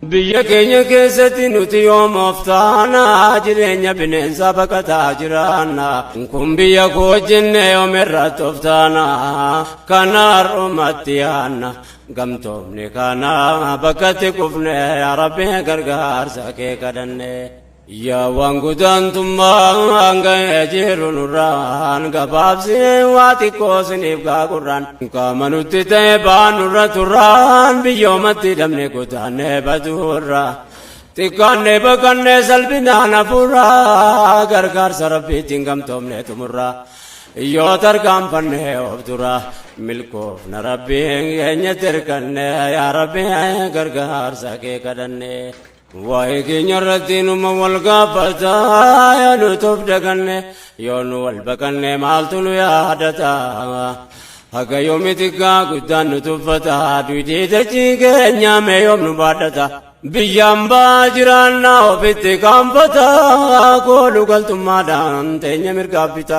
Biyya keenya keessatti nuti yoom of taana jireenya bineensaa baqataa jiraanna kun biyya koo jenne yoom irratti of taana kana har'umatti yaanna gamtoomne kana bakkatti kufne yaa rabbi gargaarsa kee kadhanne. Yaa waan gudaantummaan ga'ee jiru nurraan gabaabsee waa xiqqoo siniif gaagurraan qaama nutti ta'e ba'aan nurra turraan biyyoomatti hidhamne godaannee baduurra xiqqaannee baqannee salphinaan hafuurra gargaarsa rabbiitiin gamtoomne xumurra yoo tarkaanfannee of dura milkoofna rabbiin keenya tirkanne yaa rabbi gargaarsa kee kadhanne. Waa'ee keenya irratti numa wal gaafata yoo nuti of daganne yoo nu wal baqanne maaltu nu yaadata haga yoomiti gaa guddaan nu tuffata duutii dachii keenya mee yoom nu baadhata biyyaan baa jiraannaa ofitti kaanfata koolu galtummaadhaan teenya mirgaabbita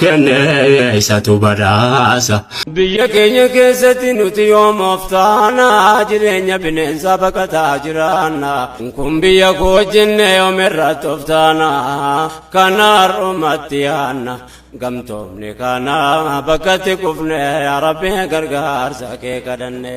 kennee isatu badhaasa. Biyya keenya keessatti nuti yoom of taana jireenya bineensaa baqataa jiraanna. Kun biyya koo jenne yoom irratti of taana kana har'umatti yaanna. Gamtoomni kana bakkatti kufne yaa Rabbi gargaarsa kee kadhanne.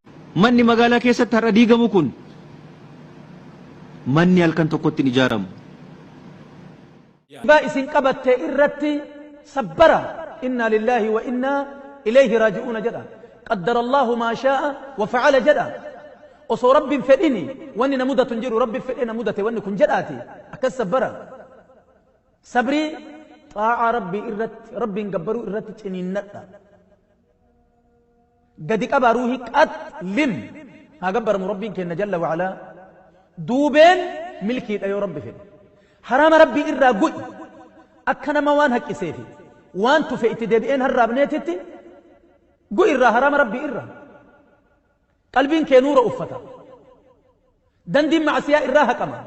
Manni magaalaa keessatti har'a diigamu kun manni halkan tokkotti hin ijaaramu. Jibaa isin qabatte irratti sabbara innaa lillaahi wa innaa ileeyhi raaji'uuna jedha. Qaddarallaahu maa shaa'a wa fa'ala jedha. Osoo Rabbi hin fedhini wanni na mudatu hin jiru Rabbi fedhee na mudate wanni kun jedhaati akkas sabbara. Sabrii xaa'aa Rabbii irratti Rabbiin gabbaruu irratti ciniinnadha. gadi qabaa ruuhii qax lin haa gabbaramu rabbiin keenna jalla wa'alaa duubeen milkiidha yoo rabbi fedhe haraama rabbii irraa gu'i akka nama waan haqqisee fi waan tufe itti deebi'een harraabneetitti gu'i irraa haraama rabbii irraa qalbiin kee nuura uffata dandiin macasiyaa irraa haqama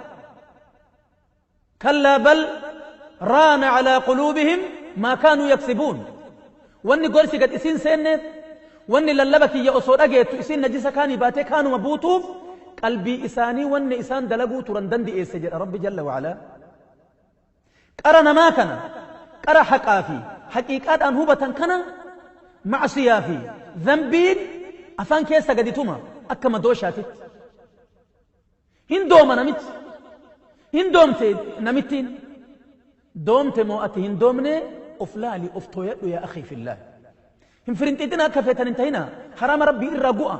Kallaa bal raana calaa quluubihim maa kaanuu yaksibuun Wanni gorsi gad isiin seenneef, wanni lallaba kiyya osoo dhageettu isiin najisa kaanii baatee kaanuma buutuuf qalbii isaanii wanni isaan dalaguu turan dandi'eesse jedha Rabbi jalla wa calaa. Qara namaa kana, qara haqaa fi haqiiqaadhaan hubatan kana macsiyaa fi dhanbiin afaan keessa gadi tuma akka madooshaatitti. Hin dooma namichi. Hin doomte namittiin. Doomte moo ati hin doomne of laali of tooyadhu yaa akhii fillaah. Hin firinxiixina akka feetan hin tahina haraama rabbii irraa gu'a.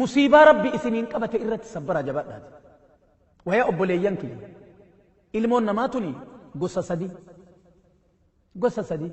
Musiibaa rabbii isiniin qabate irratti sabbaraa jabaadhaati. Wayaa obboleeyyan kiyya. Ilmoon namaa tuni gosa sadii. Gosa sadii.